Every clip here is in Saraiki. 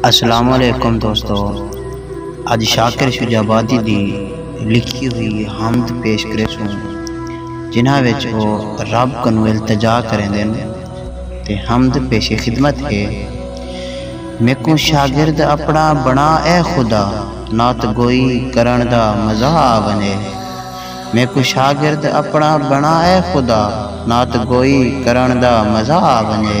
السلام علیکم دوستو اج شاکر شجاع آبادی دی لکھی ہوئی حمد پیش کرے سوں جنہاں وچ او رب کنوں التجا کریندے نے تے حمد پیش خدمت ہے میکوں شاگرد اپنا بنا اے خدا نات گوئی کرن دا مزہ آونے میکوں شاگرد اپنا بنا اے خدا نات گوئی کرن دا مزہ آونے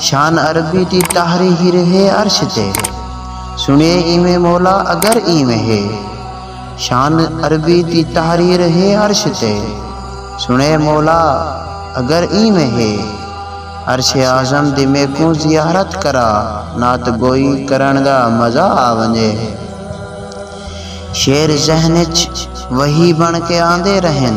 شان عربی دی تحریر ہے عرش تے سنیے ایویں مولا اگر ایویں ہے شان عربی دی تحریر ہے عرش تے سنیے مولا اگر ایویں ہے عرش اعظم دی میکوں زیارت کرا نعت گوئی کرن دا مزہ آ ونجے شعر ذہن وچ وہی بن کے آندے رہن